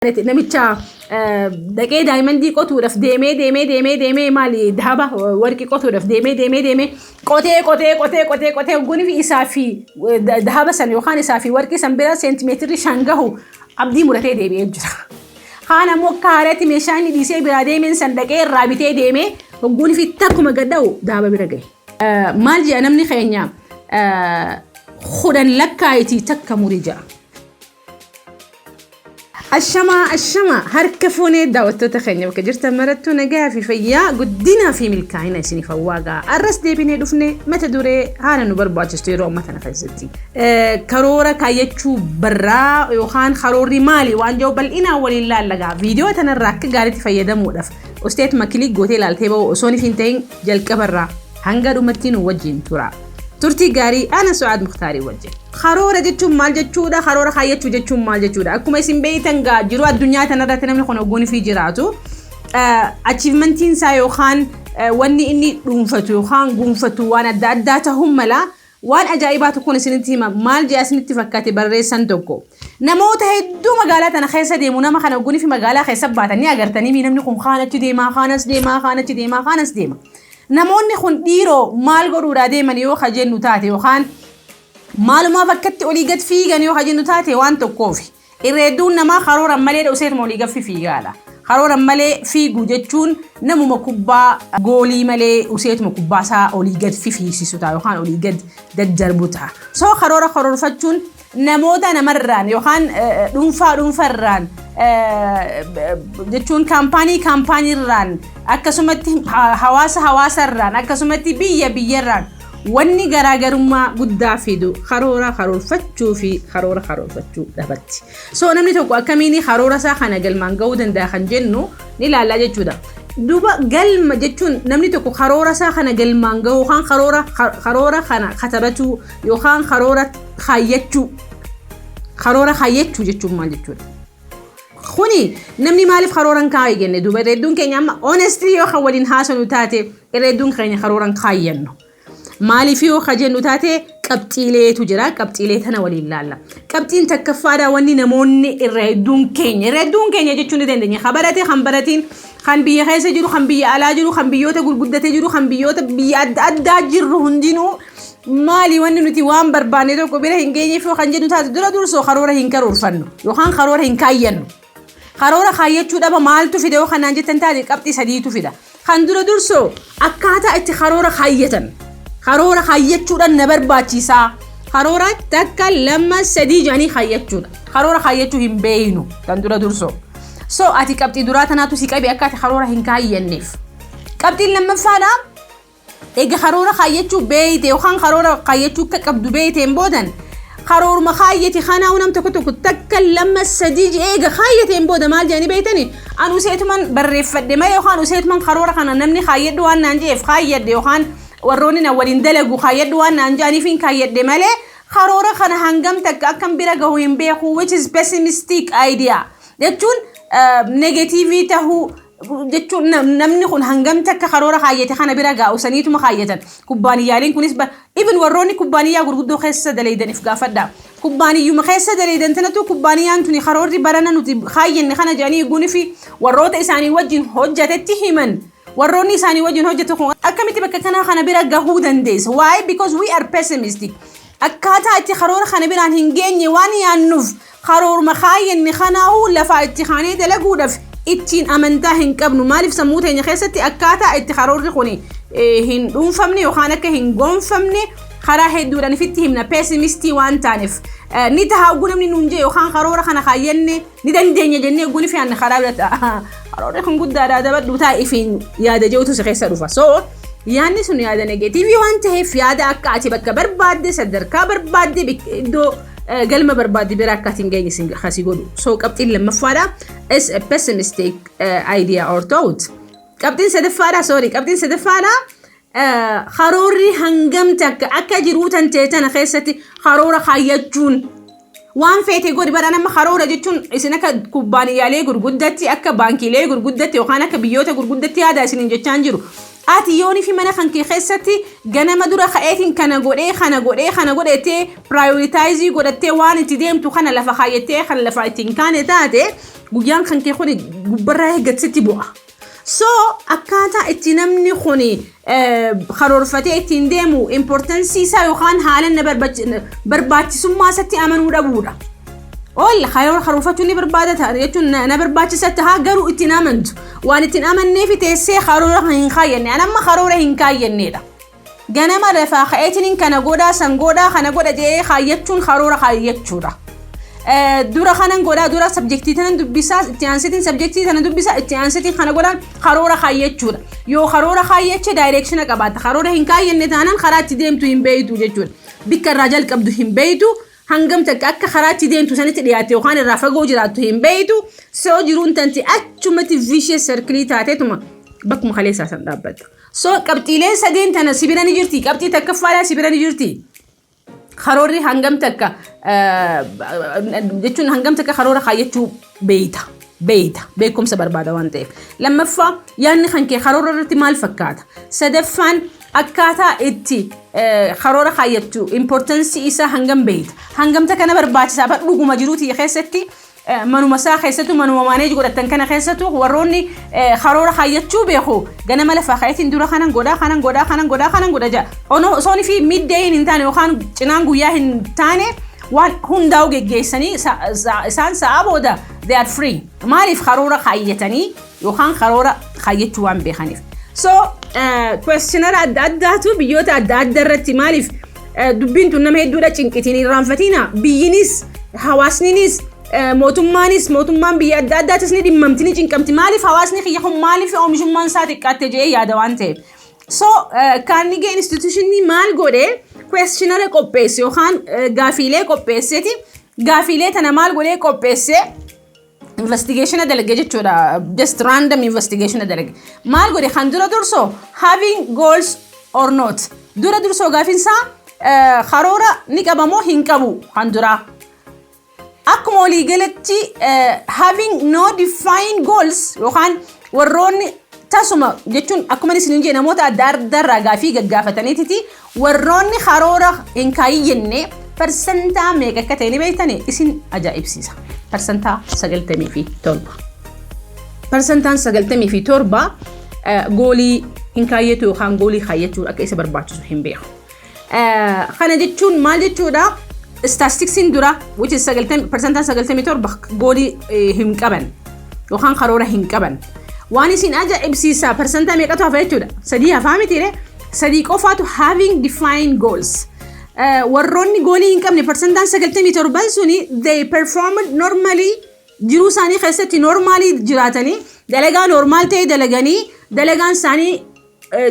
Namicha- namicha eh, dhaqee daayimandii qotuudhaaf deemee deemee deemee deemee maali daaba eh, warqii qotuudhaaf deemee deemee deemee qotee qotee qotee qotee qotee hogguun fi isaa fi eh, da- daaba san yookaan isaa fi warqii san bira seentimeetirri shan gahu abdii muratee deebi'ee jira. Kaan ammoo akka haaraatti meeshaa inni dhiisee biraa deemeen san dhaqee irraa bitee deemee hogguun fi takkuma gadha'u daaba bira gahe. Eh, Maal jedha namni keenya eh, kudhan lakkaa'itii takka muri jedha. Ashamaa ashamaa harka fuunee daawwattoota keenya bakka jirtan marattuu nagaa fi fayyaa guddinaa fi milkaa'ina isiniif hawwaagaa arras deebinee dhufne mata duree haala nu barbaachistu yeroo amma kana keessatti karoora kaayyachuu barraa yookaan karoorri maali waan jiru bal'inaan waliin laallagaa viidiyoo tanarraa akka gaariitti fayyadamuudhaaf osteet makilii gootee ilaaltee ba'u osoo hin ta'in jalqabarraa Hanga dhumatti nu wajjin tura. Turtii gaarii ana Su'aad Muktaarii wajjin. Karoora jechuun maal jechuudha? Karoora kaayyachuu jechuun maal jechuudha? Akkuma isin beektan gaa jiruu addunyaa kanarratti namni kun ogguun fi jiraatu achievmentiin isaa yookaan wanni inni dhuunfatu yookaan guunfatu waan adda addaa ta'uu mala. Waan ajaa'ibaa tokkon isinitti hima. Maal je'a isinitti fakkate barreessan tokko. Namoota hedduu magaalaa tana keessa deemu nama kana oggunifi magaalaa keessa baatan ni agartanii mii namni kun kaan achi deema, kaan as deema, kaan achi deema, kaan as deema. Namoonni kun dhiiroo maal godhuudhaa deeman yoo ka jennu taate yookaan maalumaaf akkatti olii gad fiigan yoo ka jennu taate waan tokkoofi. Irra hedduun namaa karooran malee dhoseet moolii gaffi fiigaadha. Karooran malee fiigu jechuun namuma kubbaa goolii malee useetuma kubbaa isaa olii gad fifiisisu ta'a yookaan olii gad daddarbu ta'a. Soo karoora karoorfachuun namoota namarraan yookaan dhuunfaa dhuunfarraan jechuun kaampaanii kaampaaniirraan akkasumatti hawaasa hawaasarraan akkasumatti biyya biyyarraan Wanni garaagarummaa guddaa fidu karoora karoorfachuu fi karoora karoorfachuu dhabatti. So namni tokko akkamiin karoora isaa kana galmaan ga'uu danda'a kan jennu ni ilaalla jechuudha. Duuba galma jechuun namni tokko karoora isaa kana galmaan ga'uu yookaan karoora karoora kana katabachuu yookaan karoora kaayyachuu karoora kaayyachuu jechuun maal jechuudha? Kuni namni maaliif karoora hin kaa'e jenne duuba hedduun keenya amma honestly yoo kan waliin haasofnu taate Irra hedduun keenya karooran kaayyannu. Maaliif yoo ka jennu taate qabxiileetu jira. Qabxiilee tana waliin laalla. Qabxiin takkaffaadha wanni namoonni irra hedduun keenya. Irra hedduun keenya jechuun ni dandeenya. Ka barate kan baratiin kan biyya keessa jiru kan biyya alaa jiru kan biyyoota gurguddatee jiru kan biyyoota biyya adda addaa jirru hundinuu maali wanni nuti waan barbaanne tokko bira hin geenyeef yoo kan jennu taate dura dursoo karoora hin karoorfannu yookaan karoora hin kaayyannu. Karoora kaayyachuu dhaba maaltu fida yoo kanaan jettan taate qabxii sadiitu fida. Kan dura dursoo akkaataa itti karoora kaayyatan. Karoora kaayyachuudhaan na barbaachisaa. Karoora takka lama sadii jedhanii kaayyachuudha. Karoora kaayyachuu hin beeynu kan dura dursoo. So ati qabxii duraa tanaatu si qabe akka ati karoora hin kaayyanneef. Qabxiin lammaffaadha Eega karoora kaayyachuu beeyte yookaan karoora kaayyachuu akka qabdu beeyteen boodan karooruma kaayyate kanaa nam tokko tokko takka lama sadii jedhee eega kaayyateen booda maal jedhanii beeytani an useetuman barreeffadhe malee yookaan useetuman karoora kana namni kaayyadhu waan naan jedheef kaayyadhe yookaan warroonni na waliin dalagu kaayyadhu waan naan jedhaniifiin kaayyadhe malee karoora kana hangam takka akkan bira gahu hin beeku which is pessimistic idea jechuun negatiivii tahuu jechuun nam- namni kun hangamti akka karoora kaayyate kana bira gaa'u saniituma kaayyatan kubbaaniyyaaliin kunis ba- even warroonni kubbaaniyyaa gurguddoo keessa daleeydanif gaafadha kubbaaniyyuma keessa daleeydan tanatu kubbaaniyyaan tuni karoorri barana nuti kaayyanne kana jedhanii guunifi warroota isaanii wajjin hojjatetti himan warroonni isaanii wajjin hojjete kun akkamitti bakka kanaa kana bira gahuu dandeessa why because we are pessimistic akkaataa itti karoora kana biraan hin geenye waan yaannuuf Karooruma kaayyanne kanaahuu lafaa itti kaanee dalaguudhaaf ittiin amantaa hin qabnu. Maaliif sammuu teenya keessatti akkaataa itti karoorri kun hin dhuunfamne yookaan akka hin goonfamne karaa hedduudhaan ifitti himna peesimistii waan taaneef. Ni taha oguu namni nuun jee yookaan karoora kana kaayyanne ni dandeenya jennee oguu ni fe'anne karaa bira ta'a. Karoorri kun guddaadhaa dabadhuu ta'a ifiin yaada jeetu si keessa dhufa. So yaadni sun yaada negeetiivii waan ta'eef yaada akka ati bakka barbaadde sadarkaa barbaadde iddoo galma barbaadde bira akka ati hin geenye sin kasi godhu. So qabxiin lammaffaadha is a pessimistic uh, idea or thought. Qabxiin sadaffaadha sorry qabxiin sadaffaadha uh, karoorri hangam takka akka jiruu tan ta'e tana keessatti karoora kaayyachuun waan feete godhi bara nama karoora jechuun isin akka kubbaaniyyaalee gurguddatti akka baankiilee gurguddatti yookaan akka biyyoota gurguddatti yaada isiniin jechaan jiru Ati yoonifi mana kan kee kessati ganama dura ka'eetin kana godhee kana godhee kana godhe jettee prioritize godhattee waan itti deemtu kana lafa kaayyattee kan lafaa itti hin kaane taate guyyaan kan kee kuni gubbarraa eeggati sitti bu'a. So akkaataa itti namni kuni karoorfatee ittiin deemu importansii isaa yookaan haala na barbaachisummaa isatti amanuu dhabuudha. Ol karoor karoorfachuu ni barbaada ta'a jechuun na, na barbaachisa ta'a garuu ittiin amantu. Waan ittiin amannee fi teessee karoora kan hin kaayyanne. An amma karoora hin kaayyanneedha. Ganama lafaa ka'eetiin kana godhaa san godhaa kana godha jedhee kaayyachuun karoora kaayyachuudha. Eh, Dura kanan godhaa dura sabjektii tanan dubbisaa itti aansitiin sabjektii tana dubbisaa itti aansitiin kana godhaan karoora kaayyachuudha. Yoo karoora kaayyache daayireekshina qabaata. Karoora hin kaayyanne taanaan karaa itti deemtu hin beeytu jechuudha. Bikka irraa jalqabdu hin beeytu. Hangam takka akka karaa itti deemtu sanitti dhiyaatte yookaan irraa fagoo jiraattu hin beeytu, so jiruun tanti achumatti vicious circle taateetuma bakkuma kaleessaa san dhaabbatta. So qabxiileen sadeen tana si bira ni jirti, qabxii takkaffaadhaa si bira ni jirti. Karoorri hangam takka jechuun hangam takka karoora kaayyachuu beeyta. beeyta. Beekumsa barbaada waan ta'eef. Lammaffaa yaadni kan kee karoora irratti maal fakkaata? Sadaffaan akkaataa itti eh, karoora kaayyattu importansii isaa hangam beeyta? Hangamta kana barbaachisaa bar dhuguma jiruuti keessatti eh, manuma isaa keessattuu manuma maaneeji godhatan kana keessattuu warroonni eh, karoora kaayyachuu beeku ganama lafaa ka'eetiin dura kanan godhaa kanan godhaa kanan godhaa kanan godha jedha. Ono- Osoon fi middayin hin taane yookaan cinaan guyyaa hin taane Waan hundaa'u geggeessanii sa- sa- isaan sa'aa booda they are free. Maaliif karoora kaayyatanii yookaan karoora kaayyachuu waan beekaniif. So questionara adda addaatu biyyoota adda addaa irratti maaliif eh, dubbiin tun nama hedduudha cinqitiin hin irraanfatina. Biyyinis hawaasninis eh, mootummaanis mootummaan biyya adda addaatis ni dhimmamti ni cinqamti. Maaliif hawaasni kiyya kun maaliif oomishummaan isaa xiqqaatte jedhee yaada waan ta'eef. So Carnegie Institution maal godhe questionnaire qopheesse yookaan eh, gaafiilee qopheesseti gaafiilee tana maal godhe qopheesse investigation dalage jechuudha just random investigation dalage maal godhe kan dura dursoo having goals or not dura dursoo gaafiin isaa eh, karoora ni qabamoo hin qabu kan duraa Akkuma waliigalatti having no defined goals yookaan warroonni tasuma jechuun akkuma isin hin jee namoota adda addaarraa gaafii gaggaafataniititi warroonni karoora hin kaayyenne parsantaa meeqa akka ta'e ni beektani isin ajaa'ibsiisa. Parsantaa 97. Parsantaan 97 goolii hin kaayyetu yookaan goolii kaayyachuu akka isa barbaachisu hin beeku. Kana jechuun maal jechuudha? Istaastiksiin dura which is persentaan 97 goolii hin qaban yookaan karoora hin qaban. Waan isin ajaa'ibsiisaa persentaa meeqatu hafa jechuudha? Sadii hafaa mitiire? Sadii qofaatu having defined goals. Warroonni goolii hin qabne persentaan 97 suni they performed normally jiruu isaanii keessatti normaalii jiraatanii dalagaa normaal ta'e dalaganii dalagaan isaanii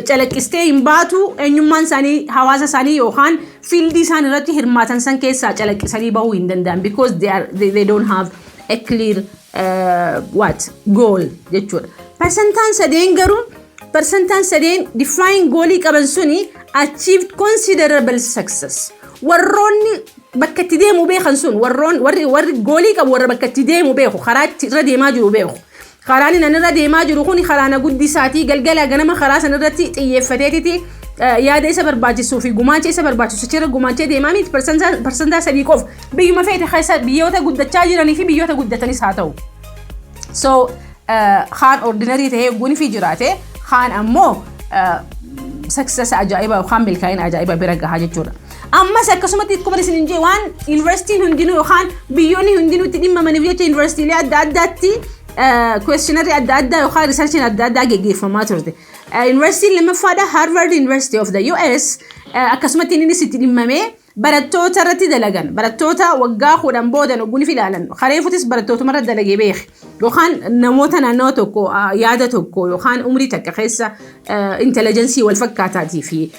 calaqqistee hin baatu eenyummaan isaanii hawaasa isaanii yookaan fiildii isaan irratti hirmaatan san keessaa calaqqisanii bahuu hin danda'an because they, are, they, they don't have a clear uh, what goal jechuudha. Persentaan sadeen garuu persentaan sadeen define goolii qaban suni achieved considerable success. Warroonni bakka itti deemu beekan sun warroon warri warri goolii qabu warra bakka itti deemu beeku karaa itti irra deemaa jiru beeku. Karaanin an irra deemaa jiru kuni karaa na guddisaati. Galgalaa ganama karaa san irratti xiyyeeffateetiti yaada isa barbaachisuu fi gumaacha isa barbaachisu achirra gumaachee deemaa miti parsantaa sadii qofa. Biyyuma feete keessa biyyoota guddachaa jiranii fi biyyoota guddatanis haa ta'u. So kaan ordinarii ta'ee gunfi jiraate kaan ammoo saksasa ajaa'iba yookaan milkaa'ina ajaa'iba bira gahaa jechuudha. Ammas akkasumatti akkuma isin jee waan yuunivarsiitiin hundinuu yookaan biyyoonni hundinuu itti dhimmamaniif jecha yuunivarsiitiilee adda addaatti kwestionarii adda addaa yookaan riisarchiin adda addaa geggeeffamaa turte. Yuunivarsiitiin lammaffaadha Harvard University of the US akkasumatti innis itti dhimmamee barattoota irratti dalagan barattoota waggaa kudhan boodan ogguun ilaalan kareefutis barattootuma irra dalagee beeke yookaan namoota naannawa tokko yaada tokko yookaan umrii takka keessa intelligensii wal fakkaataatii fi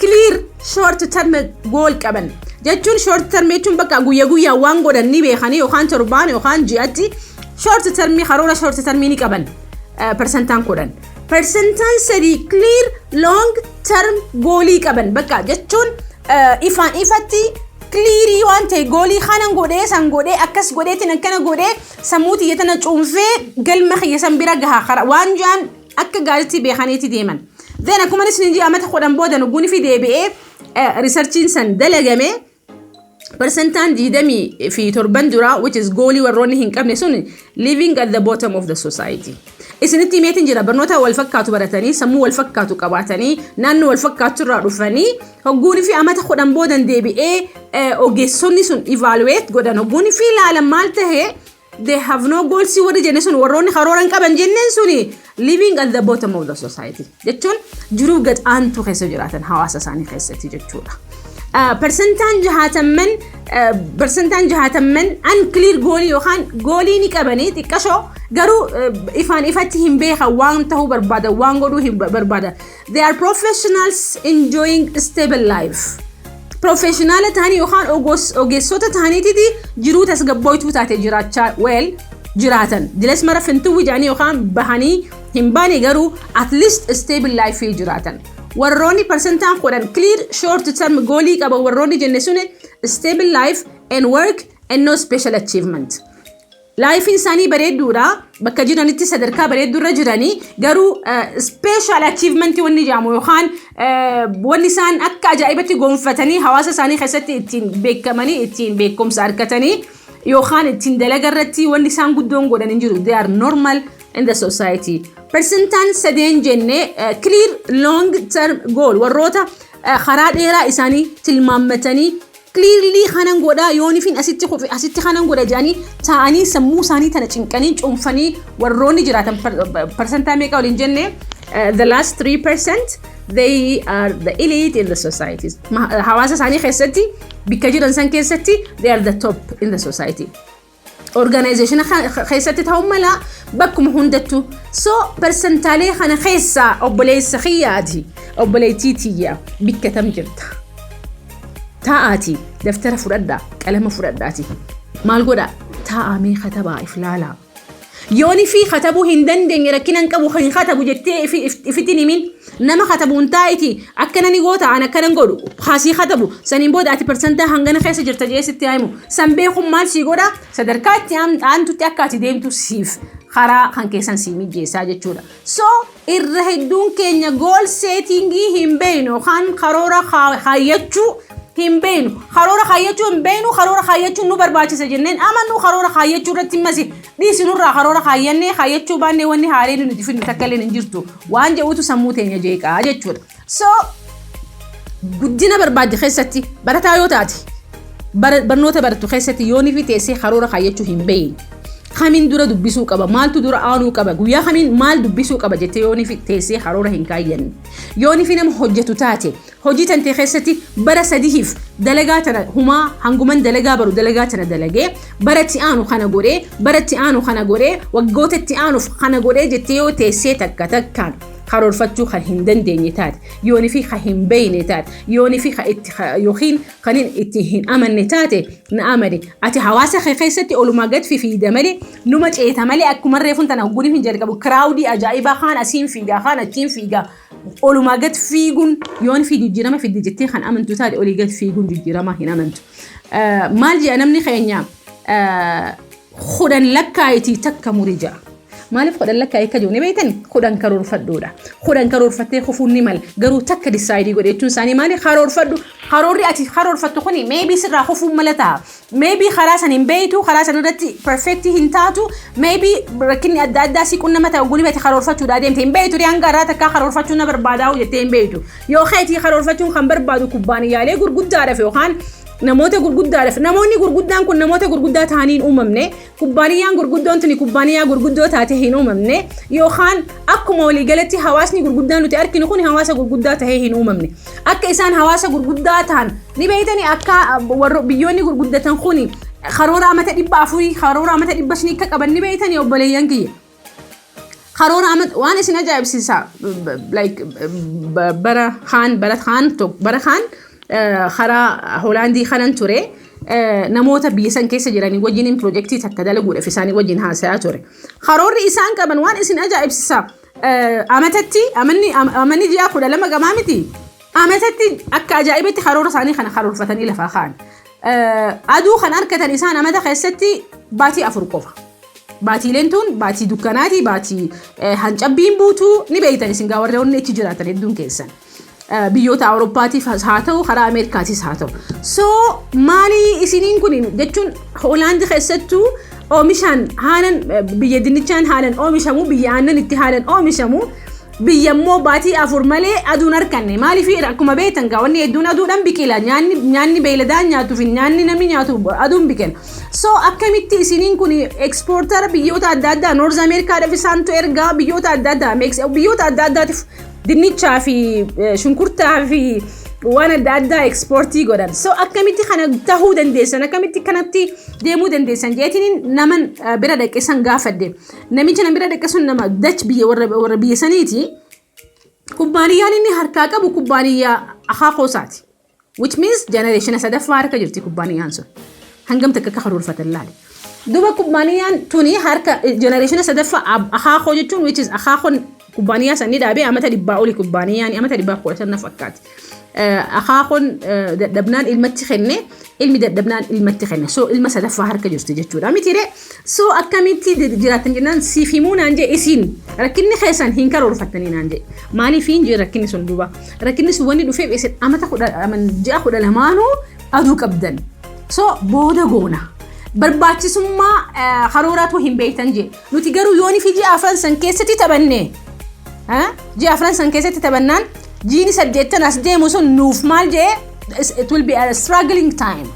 clear short term goal qaban jechuun short term jechuun bakka guyya guyyaan waan godhan ni beekanii yookaan torbaan yookaan ji'atti short term karoora short term ni qaban persentaan kudhan persentaan sadii clear long term goolii qaban bakka jechuun ifaan ifatti clearii waan ta'e goolii kanan godhee san godhee akkas godheetiin akkana godhee sammuu tiyya tana cuunfee galma kiyya san bira gaha waan jaan akka gaariitti beekaniiti deeman. Then akkuma isiniin jedhe amata kudhan booda nugguunifi deebi'ee riisarchiin san dalagame persentaan diidamii fi torban duraa which is goolii warroonni hin qabne sun living at the bottom of the society. Isinitti himeetiin jira barnoota wal fakkaatu baratanii sammuu wal fakkaatu qabaatanii naannoo wal fakkaatu irraa dhufanii hogguunii fi amata kudhan boodan deebi'ee ogeessonni sun evaluate godhan hogguunii fi ilaalan maal ta'ee they have no goals warri jenne sun warroonni karoora hin qaban jenneen suni living at the bottom of the society jechuun jiruu gad aantuu keessa jiraatan hawaasa isaanii keessatti jechuudha. Ah, Persentaan jahaatamman ah, persentaan jahaatamman unclear goolii yookaan goolii ni qabanii xiqqashoo garuu ah, ifaan ifatti hin beekan waan ta'uu barbaadan waan godhuu hin barbaadan They are professionals enjoying stable life. Professionala ta'anii yookaan ogos- ogeessota ta'aniititi jiruu tasgabbooytuu taate jiraachaa well jiraatan. Dilas mara fintuwwi jedhanii yookaan bahanii hin baane garuu at least stable life jiraatan. Warroonni parsentaan kudhan clear short term goolii qaban warroonni jenne suni stable life and work and no special achievement. Laayifiin isaanii bareedduudha. Bakka jiranitti sadarkaa bareedduurra jiranii garuu ispeeshaal achiivmentii wanni jedhamu yookaan wanni isaan akka ajaa'ibatti gonfatanii hawaasa isaanii keessatti ittiin beekamanii ittiin beekumsa argatanii yookaan ittiin dalaga irratti wanni isaan guddoon godhan hin jiru. They are normal in the society. Persentaan sadeen jenne clear long term goal warroota karaa dheeraa isaanii tilmaammatanii Clearly kanan godhaa yoonifin asitti kufe asitti kanan godha jedhanii taa'anii sammuu isaanii tana cinqanii cuunfanii warroonni jiraatan parsantaa meeqa waliin jenne eh, the last 3% they are the elite in the societies. Ma- Hawaasa isaanii keessatti bikka jiran san keessatti they are the top in the society. organization keessatti ta'uu mala bakkuma hundattu so persentaalee kana keessaa obboleessa kiyyaati obboleettii tiyya bikka tam jirta taa'aati daftara fudhadhaa qalama fudhadhaati maal godha taa'amee katabaa if laalaa Yoon ifii katabuu hin dandeenye rakkina hin qabu hin katabu jettee ifiti hin himin nama katabu hin taa'iti akkana ni goota an akkana hin godhu haa sii katabu saniin booda ati parsantaa hangana keessa jirta jee sitti haa himu san beekun maal sii godha sadarkaa itti aantutti akka ati deemtu siif karaa kan keessan sii mijjeessaa jechuudha so Irra hedduun keenya goal setting hin beeknu yookaan karoora kaa- kaayyachuu hin beeknu. Karoora kaayyachuu hin beeknu, karoora kaayyachuun nu barbaachisa jenneen amannu karoora kaayyachuu irratti masi dhiisinurraa karoora kaayyannee kaayyachuu baannee wanni haaleen nuti fidnu takka illee hin jirtu. Waan jedhuutu sammuu teenya jeeqaa jechuudha. So guddina barbaadde keessatti barataa yoo taate bara- barnoota barattu keessatti yoonii fi teessee karoora kaayyachuu hin beeyin. Kamiin dura dubbisuu qaba maaltu dura aanuu qaba guyyaa kamiin maal dubbisuu qaba jettee yoonii fi teessee karoora hin kaayyanne. Yoonii fi nama hojjetu taate hojii tantee keessatti bara sadihiif dalagaa tana humaa hanguman dalagaa baru dalagaa tana dalagee bara itti aanu kana godhee bara itti aanu kana godhee waggoota itti aanuuf kana godhee jettee yoo teessee takka takkaan karoorfachuu kan hin dandeenye taate yoonii fi kan hin beeyne taate yoonii fi kan itti yookiin kan itti hin amanne taate na amane ati hawaasa kee keessatti olumaa gad fifiida malee numa ceeta malee akkuma reefun tana hogguun hin jalqabu kiraawudii ajaa'ibaa kaan asiin fiigaa kaan achiin fiigaa olumaa gad fiiguun yoon fi jijjiirama fidde jettee kan amantu taate olii gad fiiguun jijjiiramaa hin amantu maal jedha namni keenya kudhan lakkaa'itii takka muri ja'a. Maaliif kudhan lakkaa'ee akka jiru ni beektan kudhan karoorfadhuudha. Kudhan karoorfattee kufuun ni mala garuu takka disaayidii godhe jechuun isaanii maali karoorfadhu karoorri ati karoorfattu kuni meebii sirraa kufuun mala ta'a. Meebii karaa san hin beektu karaa san irratti perfeektii hin taatu meebii rakkinni adda addaa si qunnama ta'e oguu dhibate karoorfachuudha adeemte hin beektu hanga irraa takkaa karoorfachuun na barbaadaa jettee hin beektu. Yoo keetii karoorfachuun kan barbaadu kubbaaniyyaalee gurguddaadhaaf yookaan namoota gurguddaadhaaf namoonni gurguddaan kun namoota gurguddaa ta'anii hin uumamne kubbaaniyyaan gurguddoon tuni kubbaaniyyaa gurguddoo taatee hin uumamne yookaan akkuma waliigalatti hawaasni gurguddaa nuti arginu kun hawaasa gurguddaa ta'ee hin uumamne akka isaan hawaasa gurguddaa ta'an ni beeytanii akka warro biyyoonni gurguddatan kun karoora amata dhibba afurii karoora amata dhibba shanii akka qaban ni beeytanii obboleeyyan kiyya. karoora amma waan isin ajaa'ibsiisa like bara kaan bara kaan bara kaan karaa hoolaandii kanan ture namoota biyya san keessa jiranii wajjiniin pirojektii takka dalaguudhaaf isaanii wajjin haasayaa ture karoorri isaan qaban waan isin ajaa'ibsiisa amatatti amanni amanni ji'a kudha lama gamaa miti Ametatti akka ajaa'ibatti karoora isaanii kana karoorfatanii lafaa ka'an. Aduu kan argatan isaan amata keessatti baatii afur qofa. Baatiileen tun baatii dukkanaati, baatii hancabbiin buutu ni beektan isin gaa warri onni achi jiraatan hedduun keessan. Biyyoota Awurooppaatiif haa ta'u, karaa Ameerikaatiis haa ta'u. So maalii isiniin kun jechuun Hoolaandi keessattuu oomishaan haalan biyya dinnichaan haalan oomishamu, biyya aannan itti haalan oomishamu. biyya immoo baatii afur malee aduun harkanne maaliif akkuma beektan gaa wanni hedduun aduudhaan biqila nyaanni nyaanni beeyladaan nyaatu fi nyaanni namni nyaatu aduun biqila so akkamitti isiniin kun ekspoortara biyyoota adda addaa noorz ameerikaadhaaf isaantu ergaa biyyoota adda addaa Meeks- biyyoota adda addaatiif dinnichaa fi eh, shunkurtaa fi waan adda addaa ekspoortii godhan so akkamitti kana tahuu dandeessan akkamitti kanatti deemuu dandeessan jeetiniin naman eh, bira dhaqqeessan gaafadhe Namicha na bira dhaqe sun nama dach biyya warra warra biyya saniiti. Kubbaaniyyaan inni harkaa qabu kubbaaniyyaa akaa koosaati. Which means generation sadaffaa harka jirti kubbaaniyyaan sun. Hangam takka akka karoorfatan laale. Duuba kubbaaniyyaan tuni harka generation sadaffaa ab- akaa koo jechuun which is akaa koon Kubbaaniyaa san ni dhaabee amata dhibbaa oli kubbaaniyaani amata dhibbaa kudha shan na fakkaate. Eh, Akaakoon eh, dadhabnaan ilmatti kenne ilmi dadhabnaan ilmatti kenne so ilma sadaffaa harka jirti jechuudha mitiire so akkamitti di- jiraattan jennaan siif himuu naan jee isiin rakkinni keessan hin karoorfattanii naan jee maaliif hin jee rakkinni sun duuba rakkinni sun wanni dhufeef isin amata kudha aman- ji'a kudha lamaanuu aduu qabdan so booda goona barbaachisummaa eh, karooraatu hin beektan jee Nuti garuu yoonii fi ji'a afran san keessatti taphannee ji'a afran san keessatti taphannaan jiini saddeettan as deemu sun nuuf maal jedhee it will be a struggling time.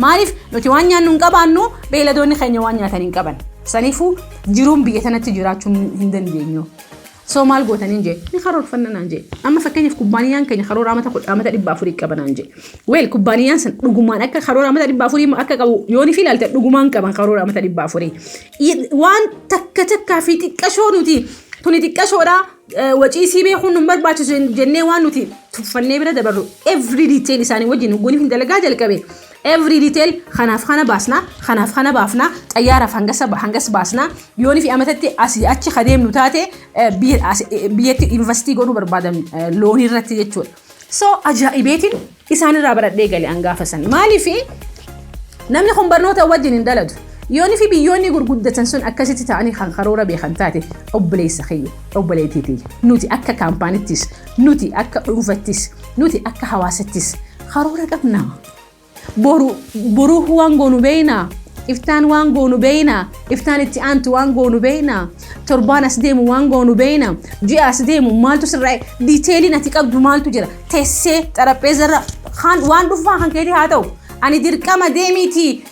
Maaliif nuti waan nyaannu hin qabaannu beeyladoonni keenya waan nyaatan hin qaban. Saniifuu jiruun biyya tanatti jiraachuu hin dandeenyu. So maal goota nin jee ni karoorfanna naan jee amma fakkeenyaaf kubbaaniyaan keenya karoora amata kudha amata dhibba afurii qaba naan jee weel kubbaaniyaan san dhugumaan akka karoora amata dhibba afurii akka qabu yooni fi ilaalte dhugumaan qaban karoora amata dhibba afurii waan takka takkaa fi xiqqashoo nuti tuni xiqqashoodha wacii sii beekuun nun barbaachisu jennee waan nuti tuffannee bira dabarru every detail isaanii wajjin hogguun hin dalagaa jalqabe Every detail kanaaf kana baasna, kanaaf kana baafna, xayyaaraaf hangasa hangas baasna, yoonii fi amatatti asii achi ka deemnu taate eh, biyya as- eh, biyyatti investii godhuu barbaadan eh, loonii irratti jechuudha. So ajaa'ibeetiin isaanirraa baradhee gale an gaafa sani. Maaliif namni kun barnoota wajjin hin daladu. Yoonii fi biyyoonni gurguddatan sun akkasitti ta'anii kan karoora beekan taate obboleessa kiyya, obboleettii tiyya. Nuti akka kaampaanittis, nuti akka dhuunfattis, nuti akka hawaasattis Karoora qabna. Boru boruu waan goonu beeyna. Iftaan waan goonu beeyna. Iftaan itti aantu waan goonu beeyna. Torbaan as deemu waan goonu beeyna. Ji'a as deemu maaltu sirraa diiteeliin ati qabdu maaltu jira. Tessee xarapheezarra waan dhufaa kan keetii haa ta'u. Ani dirqama deemiitii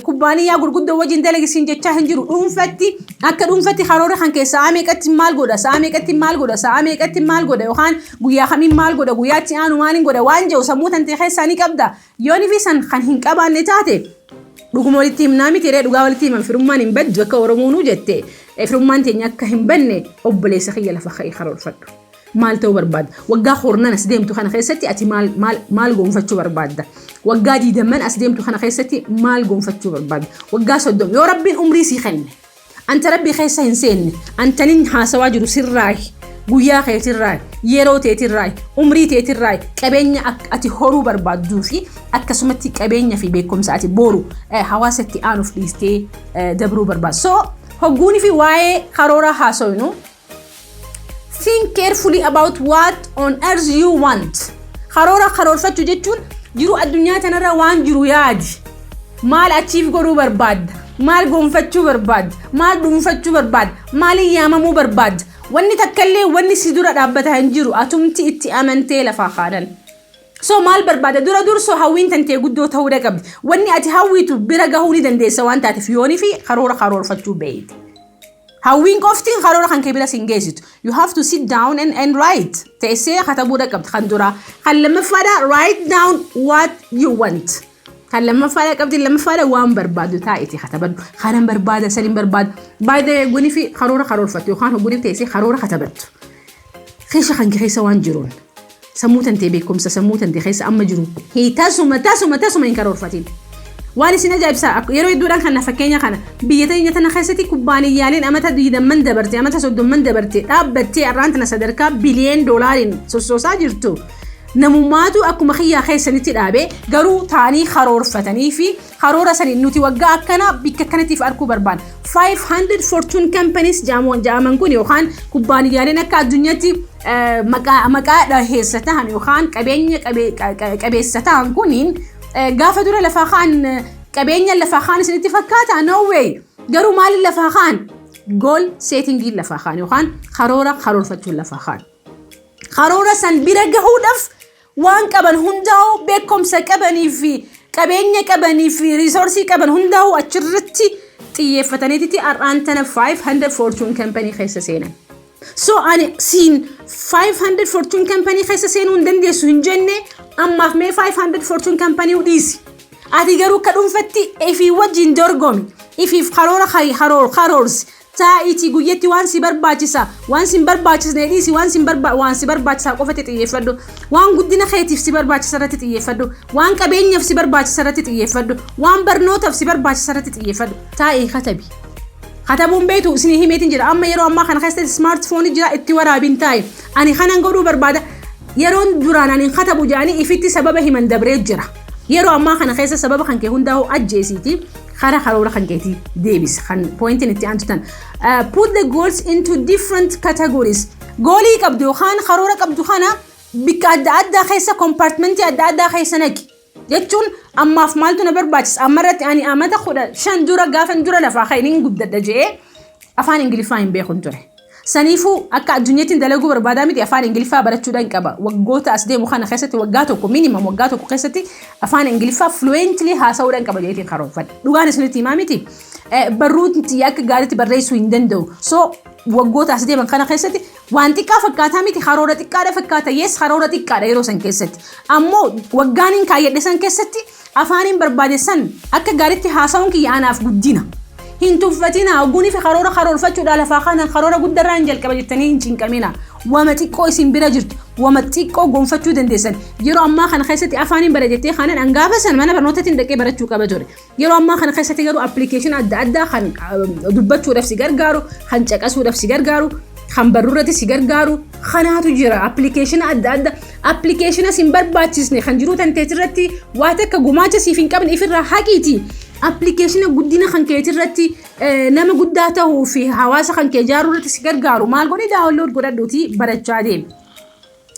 kubbaaniyyaa gurguddoo wajjin dalagi siin jechaa hin jiru dhuunfatti akka dhuunfatti karoora kan kee sa'aa meeqatti maal godha sa'aa meeqatti maal godha sa'aa meeqatti maal godha yookaan guyyaa kamiin maal godha guyyaa itti aanu maaliin godha waan jedhu sammuu tantee keessaa ni qabda yoon fi san kan hin qabaanne taate dhuguma walitti himnaa miti ree dhugaa walitti himan firummaan hin baddu akka oromoonuu jette firummaan teenya akka hin banne obboleessa kiyya lafa ka'ee karoorfadhu. Maal ta'uu barbaadda? Waggaa kurnan as deemtu kana keessatti ati maal, maal, maal gonfachuu barbaadda? Waggaa diidamman as deemtu kana keessatti maal gonfachuu barbaadda? Waggaa soddom yoo rabbiin umrii sii kenne anta rabbii keessa hin seenne antanin haasawaa jiru sirraayi guyyaa keetirraayi yeroo teetirraayi umrii teetirraayi qabeenya ak- ati horuu barbaadduu fi akkasumatti qabeenya fi beekumsa ati booru eh, hawaasa itti aanuuf dhiistee eh, dabruu barbaadda. So hogguunii fi waa'ee karooraa haasawinu Think carefully about what on earth you want. Karoora karoorfachuu jechuun jiruu addunyaa tanarra waan jiru yaadi. Maal achiif godhuu barbaadda? Maal gonfachuu barbaadda? Maal dhuunfachuu barbaadda? Maaliin yaamamuu barbaadda? Wanni takkallee wanni si dura dhaabbata hin jiru atumti itti amantee lafaa kaanan. So maal barbaada dura dursoo hawwiin tantee guddoo ta'uu dhaqabdi. Wanni ati hawwitu bira gahuu ni dandeessa waan taateef yoonii fi karoora karoorfachuu beeyte. Hawwiin qofti karoora kan kee bira sin geessitu. You have to sit down and, and write. Teessee katabuudha qabda kan duraa. Kan lammaffaadha write down what you want. Kan lammaffaadha qabdi lammaffaadha waan barbaadu taa'iti katabadhu. Kanan barbaada san hin barbaadu. By the way hoggunii fi karoora karoorfattu yookaan hoggunii teessee karoora katabattu. Keessa kan keessa waan jiruun. Sammuu tantee beekumsa sammuu tante keessa amma jiru hii tasuma tasuma tasuma hin karoorfatiin. Waan isin ajaa'ibsaa ak- yeroo hedduudhaan kana fakkeenya kana biyya teenya tana keessatti kubbaaniyyaaleen amata 20 dabarte amata 30 dabarte dhaabbattee arraan tana sadarkaa biliyeen doolaariin sossoosaa jirtu. Namummaatu akkuma kiyyaa keessanitti dhaabe garuu taanii karoorfatanii fi karoora saniin nuti waggaa akkanaa bikka kanatiif arkuu barbaanna. 500 fortune companies jaamoon jaaman kun yookaan kubbaaniyyaaleen akka addunyaatti eh, maqaa maqaa dhaheessa tahan yookaan qabeenya qabe- qa- qa- qabeessa tahan kuniin eh, gaafa dura lafaa kaan eh, qabeenya lafaa kaan isinitti fakkaata no way garuu maaliin lafaa kaan gool seetingiin lafaa kaan yookaan karoora karoorfachuun lafaa kaan. karoora san bira gahuudhaaf waan qaban hundaa'uu beekumsa qabanii fi qabeenya qabanii fi riisoorsii qaban hundaa'uu achirratti xiyyeeffataniiti har'aan tana 500 fortune company keessa seenan. So ani siin 500 fortune company keessa seenuu hin dandeessu hin jenne ammaaf mee 500 fortune company dhiisi. Ati garuu akka dhuunfatti ifii wajjin dorgomi. Ifiif karoora karoor karoorsi. Taa'iitii guyyatti waan si barbaachisa, waan si hin barbaachisne dhiisi, waan si hin barba- waan si barbaachisaa qofatti xiyyeeffadhu. Waan guddina keetiif si barbaachisa irratti xiyyeeffadhu. Waan qabeenyaaf si barbaachisa irratti xiyyeeffadhu. Waan barnootaaf si barbaachisa irratti xiyyeeffadhu. Taa'ii katabi. Katabuun beektu isinii himeetiin jira. Amma yeroo ammaa kana keessatti smaartifoonii jira itti waraabiin taa'i. Ani kanan godhuu barbaada. Yeroon duraan ani hin katabu jedhanii ifitti sababa himan dabree jira. Yeroo ammaa kana keessa sababa kan kee hundaa'u ajjeesiiti. Kara karoora kan keetii deebis kan pooyintiin itti aantu tan. Put the goals into different categories. Goolii qabdu yookaan karoora qabdu kana bikka adda addaa keessa kompartimentii adda addaa keessa naqi. Jechuun ammaaf maaltu na barbaachisa amma irratti ani amata kudha shan dura gaafan dura lafaa ka'e nin guddadha je'ee afaan ingiliffaa hin beekun ture. Saniifuu akka addunyattin dalaguu barbaadaa miti afaan Ingiliffaa barachuudhan qaba. Waggoota as deemu kana keessatti waggaa tokko minimum waggaa tokko keessatti afaan Ingiliffaa fluently haasa'uudhan qaba jedheetiin karoorfadhe. Dhugaan isinitti himaa miti barruu tiyya akka gaariitti barreessuu hin danda'u. So waggoota as deeman kana keessatti waan xiqqaa fakkaataa miti karoora xiqqaadha fakkaata yes karoora xiqqaadha yeroo san keessatti. Ammoo waggaan hin kaayyadhe san keessatti Afaaniin barbaade san akka gaaritti haasawuun kiyya anaaf guddina. Hin tuffatinaa, ogguuniifi karoora karoorfachuudhaa lafaa kaanaan karoora guddarraan jalqaba jettanii hin cinqaminaa. Wama xiqqoo isin bira jirtu, wama xiqqoo gonfachuu dandeessan. Yeroo ammaa kana keessatti afaaniin bara jettee kaanan an gaafa san mana barnootatiin dhaqee barachuu qaba ture. Yeroo ammaa kana keessatti garuu application adda addaa kan dubbachuudhaaf si gargaaru, kan caqasuudhaaf si gargaaru, kan barruurratti si gargaaru kanaatu jira. Application adda addaa Appilikeeshina sin barbaachisne kan jiruu tanteetirratti waa takka gumaacha siif hin qabne ifirraa haqiiti. Appilikeeshina guddina kan keetirratti nama guddaa ta'uu fi hawaasa kan kee ijaaruu irratti si gargaaru maal godhi daawunlood godhadhuuti barachaa deemi.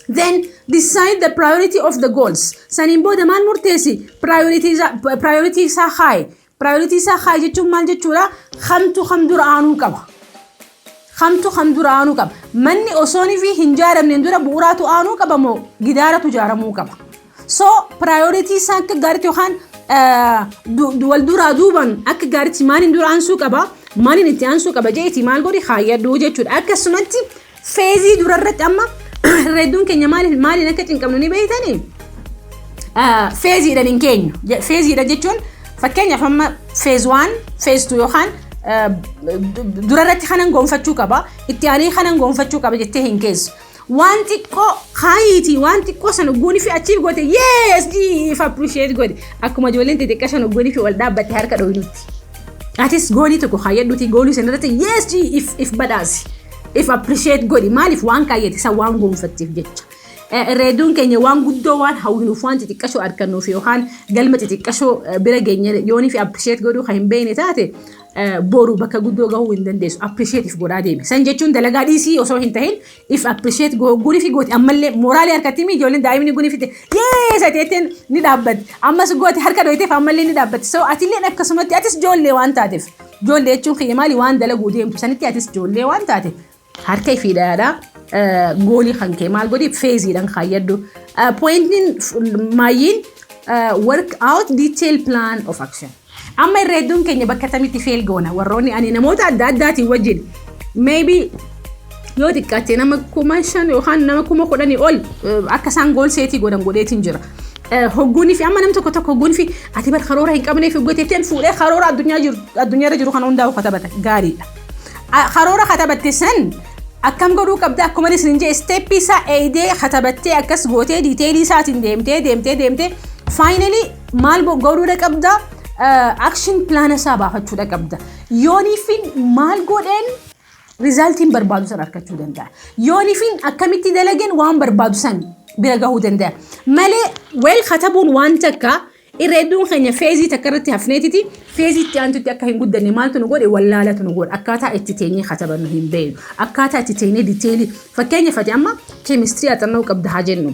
Then decide the priority of the goals. Saniin booda maal murteessi? Priority isaa kaa'i. Priority isaa kaa'i jechuun maal jechuudha? Kamtu kam dura aanuu qaba. Kamtu kam dura aanuu qaba. Manni osoon fi hin jaaramneen dura bu'uuraatu aanuu qaba moo gidaaratu jaaramuu qaba. So priority isaa akka gaariitti yookaan wal duraa duuban akka gaariitti maaliin dura aansuu qaba. Maaliin itti aansuu qaba jeeti maal godhi kaayyadhu jechuudha. Akkasumatti Feezii durarratti amma hedduun keenya maaliin maaliin akka cinqamnu ni beektanii? Feeziidhaan hin keenyu. Feeziidha jechuun fakkeenyaaf amma feez waan feez tu yookaan durarratti kanan gonfachuu qaba itti aanee kanan gonfachuu qaba jettee hin keessu. Waan xiqqoo kaayiiti waan xiqqoo sana goonii fi achiif goote yees jiif appirisheet godhe akkuma ijoolleen xixiqqaa sana goonii fi wal dhaabbatte harka dhooynutti. Atis goonii tokko kaayyadhuuti goolii sana irratti yees jiif if badhaasi. If appreciate godhi maaliif waan kaayyate isa waan gonfatteef jecha. Reeduun keenya waan guddoo waan hawwinuuf waan xixiqqashoo arkannuuf yookaan galma xixiqqashoo bira geenye yoonii fi appreciate godhuu kan hin beekne taate boru bakka guddoo gahuu hin dandeessu appreciate if godhaa deemi. San jechuun dalagaa dhiisii osoo hin tahin if appreciate guni fi gooti ammallee mooraalii harkatti mi ijoolleen daa'imni guni fite yee sateetteen ni dhaabbatti ammas gooti harka dhoyteef ammallee ni dhaabbatti so atilleen akkasumatti atis ijoollee waan taateef. Ijoollee jechuun kiyya maali waan dalaguu deemtu sanitti atis ijoollee waan taate harka fi dhayaadha. Goolii kan kee maal godhi feeziidhaan kaayyadhu. Pooyintiin maayyiin work out detail plan of action. Amma irra hedduun keenya bakka tamitti feel goona warroonni ani namoota adda addaatiin wajjin maybe yoo xiqqaate nama kuma shan yookaan nama kuma kudhanii ol akka isaan gool seetii godhan godheetiin jira. Hogguunii fi amma nam tokko tokko hogguunii fi ati bar karoora hin qabnee fi hoggeteetiin fuudhee karoora addunyaarra jiru kan hundaa'u katabata gaariidha. Karoora katabatte san akkam godhuu qabda akkuma isin hin jee isteeppii isaa eeydee katabattee akkas gootee diiteelii isaatiin deemtee deemtee deemtee faayinalii maal godhuudha qabda akshin pilaana isaa baafachuudha qabda. Yooniifiin maal godheen Rizaaltiin barbaadu san arkachuu danda'a. Yoonifiin akkamitti dalageen waan barbaadu san bira gahuu danda'a. Malee weel katabuun waan takka irra hedduun keenya feezii takka irratti hafneetiti feezii itti aantutti akka hin guddanne maaltu nu godhe wallaalatu nu godhe akkaataa itti teenyee katabannu hin beeynu akkaataa itti teenyee diteelii fakkeenya fati amma keemistirii axannoo qabda haa jennu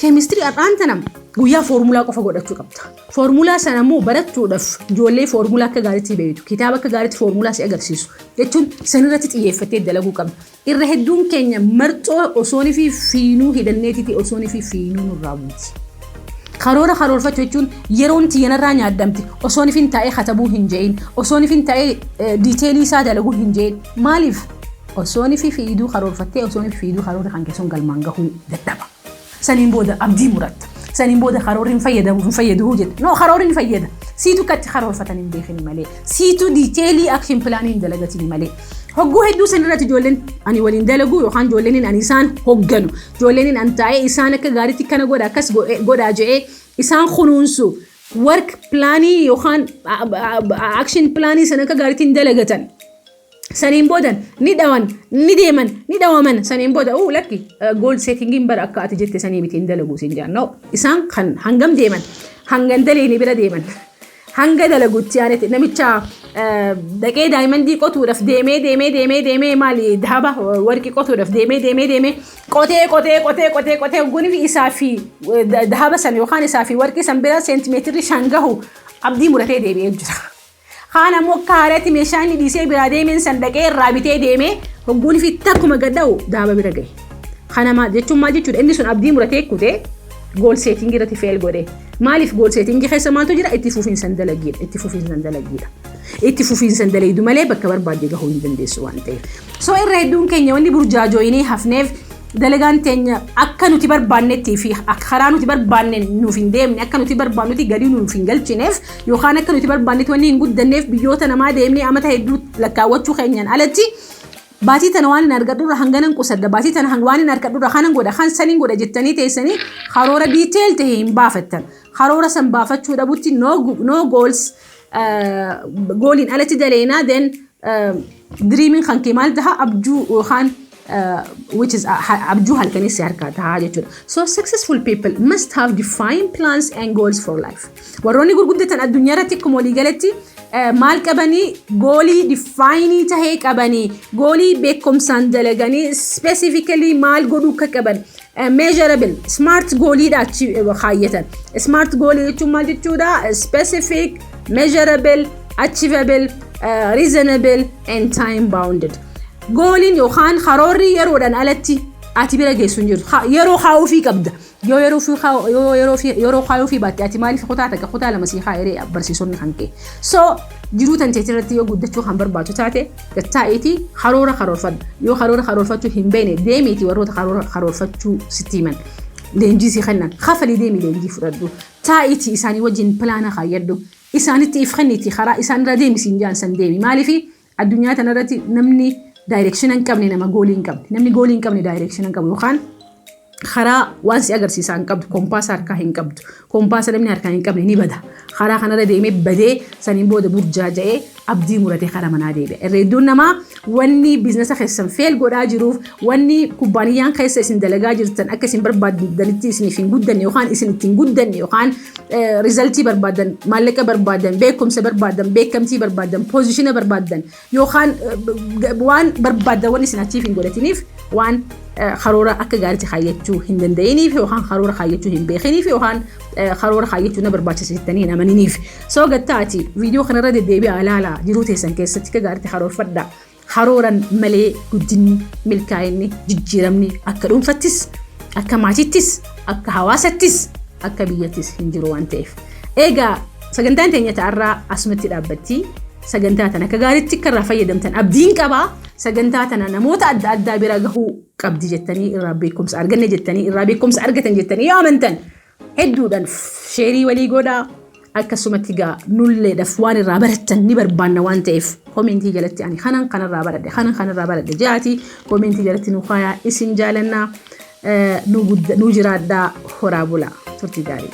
keemistirii har'aan tana guyyaa foormulaa qofa godhachuu qabda. Foormulaa sana immoo barachuudhaaf ijoollee foormulaa akka gaariitti beektu kitaaba akka gaariitti foormulaa si agarsiisu jechuun sanirratti xiyyeeffattee dalaguu qabna. Irra hedduun keenya marxoo osoon fi fiinuu hidhanneetiiti osoon fi fiinuu nurraa buuti. Karoora karoorfachuu jechuun yeroon itti yanarraa nyaadhamti osoon fi taa'ee katabuu hin je'in osoon fi taa'ee diiteelii isaa dalaguu hin je'in maaliif osoon fi fiiduu karoorfattee osoon fi fiiduu karoora kan keessoon galmaan gahuu dadhaba. Saniin booda abdii muratta. Saniin booda karoorri hin fayyadamu hin fayyadu jetta. No karoorri ni fayyada. Siitu akka itti karoorfatan hin beekini malee. Siitu diiteelii action pilaanii hin dalagatini malee. Hogguu hedduu san irratti ijoolleen ani waliin dalagu yookaan ijoolleen ani isaan hogganu. Ijoolleen ani taa'ee isaan akka gaariitti kana godha akkas godhaa je'ee isaan kunuunsu. Work pilaanii yookaan action pilaanii san akka gaariitti hin dalagatan. saniin boodan ni dhawan ni deeman ni dhawaman saniin booda uu lakki gool seetingiin bara akka ati jette sanii miti hin dalagu siin jaan no isaan kan hangam deeman hangan daleeni bira deeman hanga dalagutti aanetti namicha dhaqee daayimandii qotuudhaaf deemee deemee deemee deemee maali daaba warqii qotuudhaaf deemee deemee deemee qotee qotee qotee qotee qotee gunifi isaa fi daaba san yookaan isaa fi warqii san bira seentimeetirri shan gahu abdii muratee deebi'ee jira. Kaan ammoo akka haarayatti meeshaa inni dhiisee biraa deemeen san dhaqee irraa bitee deemee hogguun fi takkuma gad dha'u daaba bira gahe. Kana maal jechuun maal jechuudha inni sun abdii muratee kute gool seetingii irratti feel godhe. Maaliif gool seetingii keessa maaltu jira itti fufiinsan dalagiidha itti fufiinsan dalagiidha. Itti fufiinsan dalaydu malee bakka barbaadde gahuu hin dandeessu waan ta'eef. So irra hedduun keenya wanni burjaajooyinee hafneef dalagaan teenya akka nuti barbaannettii fi karaa nuti barbaanne nuuf hin deemne akka nuti barbaannuti galii nuuf hin galchineef yookaan akka nuti barbaannetti wanni hin guddanneef biyyoota namaa deemnee amata hedduu lakkaawwachuu keenyaan alatti baatii tana waan hin argadhurra hanganan qusadda baatii tana hang- waan hin argadhurra kanan godha kan san hin godha jettanii teessanii karoora diiteel ta'e hin baafattan karoora san baafachuu dhabutti no, go- no goals eh, gooliin alatti daleenaa then eh, diriimiin kan kee maal taha abjuu yookaan which is abjuu halkanii si harkaa tahaa jechuudha. So successful people must have defined plans and goals for life. Warroonni gurguddatan addunyaa irratti akkuma walii galatti maal qabanii goolii difaayinii tahee qabanii goolii beekumsaan dalaganii specifically maal godhuu akka qaban measurable smart gooliidha achi kaayyatan. Smart goolii jechuun maal jechuudha? Specific, measurable, achievable, reasonable and time bounded. Gooliin yookaan karoorri yeroodhaan alatti ati bira geessu hin jiru. Ha- Yeroo kaa'uufii qabda. Yoo yeroo fi kaa- yoo yeroo fi- yeroo kaa'uufii baatte ati maaliif kutaa takka kutaa lama sii kaa'ee ree barsiisonni kan kee. So jiruu tan teetii irratti yoo guddachuu kan barbaadu taate gattaa'iitii karoora karoorfadhu. Yoo karoora karoorfachuu hin beekne deemiitii warroota karoora karoorfachuu sitti himan. Leenjii sii kennan. Kafalii deemii leenjii fudhadhu. Taa'iitii isaanii wajjin pilaana kaayyadhu. Isaanitti if kenniitii karaa isaan irra deemi siin jaan san deemi. Maaliif Addunyaa tanarratti namni daayireekshina hin qabne nama goolii hin qabne. Namni goolii hin qabne daayireekshina hin qabu yookaan karaa waan si agarsiisaa hin qabdu kompaasa harkaa hin qabdu kompaasa namni harkaa hin qabne ni bada karaa kanarra deemee badee saniin booda burjaaja'ee abdii muratee karaa manaa deebi'a irreedduun namaa wanni biiznasa keessan feel godhaa jiruuf Wanni kubbaaniyyaan keessa isin dalagaa jirtan akka isin barbaaddanitti isiniif hin guddanne yookaan isin itti hin guddanne yookaan rizaltii barbaadan, maallaqa barbaadan, beekumsa barbaadan, beekamtii barbaadan, poozishina barbaadan yookaan waan barbaadan wanni isin achiif hin godhatiniif waan karoora akka gaariitti kaayyachuu hin danda'iniif yookaan karoora kaayyachuu hin beekiniif yookaan karoora kaayyachuu na barbaachisa jettanii hin amaniniif. Soo gattaati viidiyoo kanarra deddeebi'aa ilaalaa jiruu teessan keessatti akka gaariitti karoorfadhaa. Karooran malee guddinni, milkaa'inni, jijjiiramni akka dhuunfattis, akka maatiittis, akka hawaasattis, akka biyyattis hin jiru waan ta'eef. Eegaa sagantaan teenya ta'arraa asumatti dhaabbatti. Sagantaa tana akka gaariitti akka irraa fayyadamtan abdiin qaba. Sagantaa tana namoota adda addaa bira gahuu qabdi jettanii irraa beekumsa arganne jettanii irraa beekumsa argatan jettanii yoo amantan Hedduudhan sheerii walii godhaa akkasumatti gaa nulleedhaf waan irraa barattan ni barbaanna waan ta'eef koomeentii jalatti ani kanan kanarraa baradhe kanan kanarraa baradhe jaati koomeentii jalatti nu kaayaa isin jaalanna nu jiraadhaa horaa bulaa turtii gaarii.